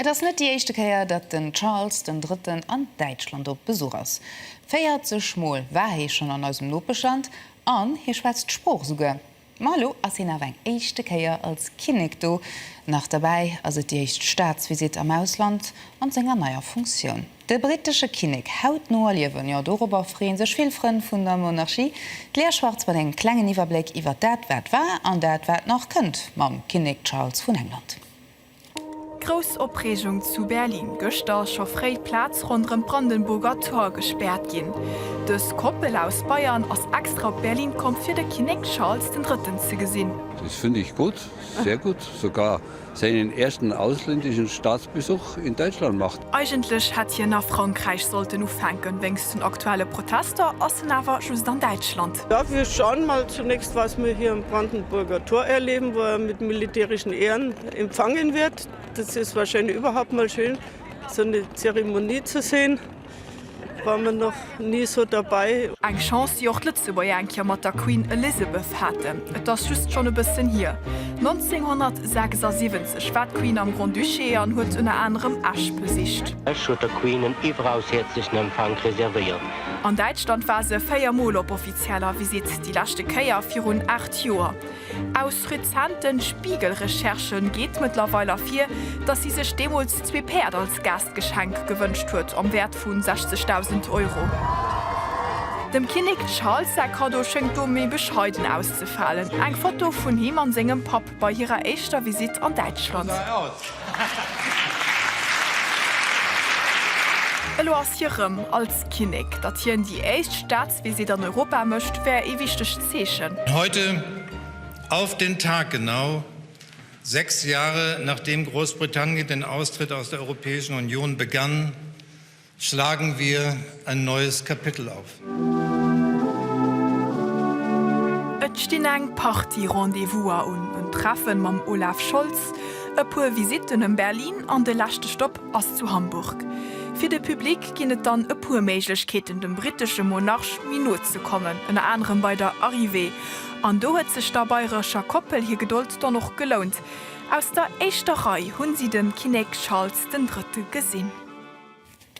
Et ass net déi éischte Kéier, datt den Charles den Drëtten an Däitschland op Besuch ass. 40 Mol war hie schonn an eisem Nopeschland an hie schwätzt d'Sprooch esouguer. Ma elo ass hien awer eng éischte Kéier als Kinnek do. Nach derbäi ass et déi éischt Staatsvisitt am Ausland an senger neier Funktioun. De brittesche Kinnek hautno erliewen, jo dorobber freeën sech vill Frënn vun der Monarchie. D'Lea Schwartz mat engem klengen Iwwerbléck iwwer dat wat war an dat wat nach kënnt mam Kinnek Charles vun England. Grouss Opreegung zu Berlin, Gëschter ass scho fréi d'Plaz ronderëm d'Brandenburger Tor gespaart ginn. Dës Koppel aus Bayern ass extra op Berlin komm fir de Kinnek Charles den Drëtten ze gesinn. Das finde ich gut, sehr gut, sogar seinen ersten ausländischen Staatsbesuch in Deutschland macht. Eigentlech hätt hien a Frankräich sollten ufänken, wéinst den aktuelle Protester ass en awer just an Däitschland. Darf wir schauen mal zunächst, was mir hier im Brandenburger Tor erleben, wo er mit militärischen Ehren empfangen wird. Das ist wahrscheinlich überhaupt mal schön, so eine Zeremonie zu sehen. War man noch nie so dabei. Eng Chance, déi och d'Lëtzebuerger eng Kéier mat der Queen Elizabeth haten. Et ass just schonn e bëssen hier. 1976 war d'Queen am Grand-Duché an huet ënner anerem Esch besicht. Esch huet der Queen en iwweraushäerzlechen Empfank reservéiert. An Däitschland war se véier Mol op offizieller Visitt, déi leschte Kéier virun aacht Joer. Aus rezenten Spiegel-Recherchë geet mëttlerweil ervir, datt si sech deemools zwee Päerd als Gaastgeschenk gewënscht huet am Wäert vu 60.000 Euro. Dem Kinnek Charles säi Kaddo schéngt do méi bescheiden auszefalen, eng Foto vun him a sengem Papp. bei hirer éischter Visitt an Däitschland. Elo ass hie rëm als Kinnek. Datt hien déi éischt Staatsvisitt an Europa mécht, wär ee wichtegt Zeechen. Heute, auf den Tag genau, sechs Jahre nachdem Großbritannien den Austritt aus der Europäischen Union begann, Schlagen wir ein neues Kapitel auf. Et stinn eng Partie Rendez-vouser un, en Treffen mam Olaf Scholz, e puer Visitten em Berlin an de leschte Stopp ass zu Hamburg. Fir de Public ginn et dann e puer Méiglechkeeten dem brittesche Monarch méi no ze kommen, ënner anerem bei der Arrivée. An do huet sech der bayrescher Koppel hir Gedold dann och gelount. Aus der éischter Rei hunn si den Kinnek Charles den Drëtte gesinn.